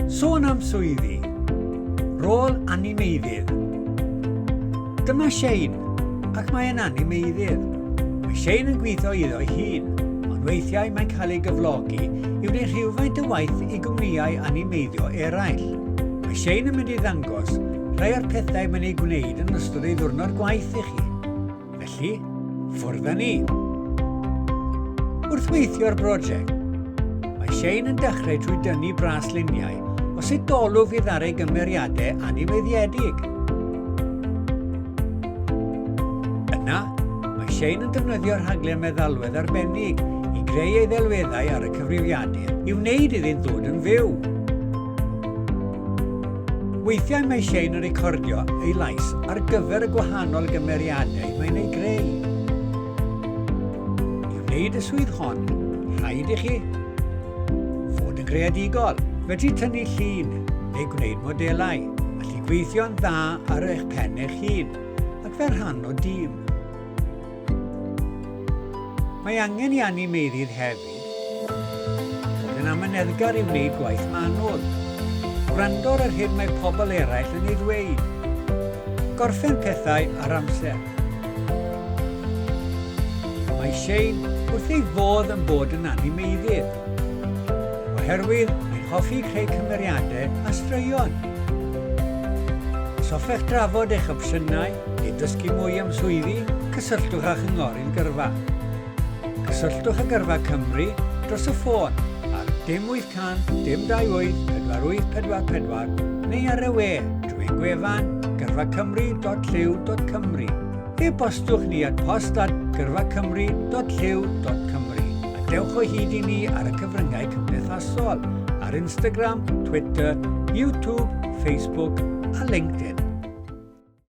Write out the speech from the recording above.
Sôn am swyddi, rôl animeiddydd. Dyma Shane, ac mae yn animeiddydd. Mae Shane yn gweithio iddo'i hun, ond weithiau mae'n cael ei gyflogi i wneud rhywfaint o waith i gwmnïau animeiddio eraill. Mae Shane yn mynd i ddangos rhai o'r pethau mae'n ei gwneud yn ystod ei ddwrnod gwaith i chi. Felly, ffwrdd â ni. Wrth weithio ar brosiect, mae Shane yn dechrau trwy dynnu bras luniau o sut dolwg fydd ar ei gymeriadau anifeiddiedig. Yna, mae Shane yn defnyddio rhaglen meddalwedd arbennig i greu ei ddelweddau ar y cyfrifiadur i wneud iddynt ddod yn fyw. Weithiau mae Shane yn recordio ei lais ar gyfer y gwahanol gymeriadau mae'n ei greu. I wneud y swydd hon, rhaid i chi fod yn greadigol. Felly tynnu llun neu gwneud modelau, allu gweithio'n dda ar eich pen eich hun ac fel rhan o dîm. Mae angen i animeirydd hef Roedd yn amyneddgar i wneud gwaith manwl. Gwrando ar yr hyn mae pobl eraill yn ei ddweud. Gorffen pethau ar amser. Mae Shane wrth ei fodd yn bod yn animeiddydd. Oherwydd mae'n hoffi creu cymeriadau a straeon. Os hoffech drafod eich opsiynau neu ddysgu mwy am swyddi, cysylltwch â Chynghorydd Gyrfa. Cysylltwch â Gyrfa Cymru dros y ffôn ar 0800 228 4844 neu ar y we drwy gwefan gyrfacymru.llyw.cymru. E-bostwch ni at post at gyrfacymru.llyw.cymru a dewch o hyd i ni ar y cyfryngau cymdeithasol ar Instagram, Twitter, YouTube, Facebook a LinkedIn.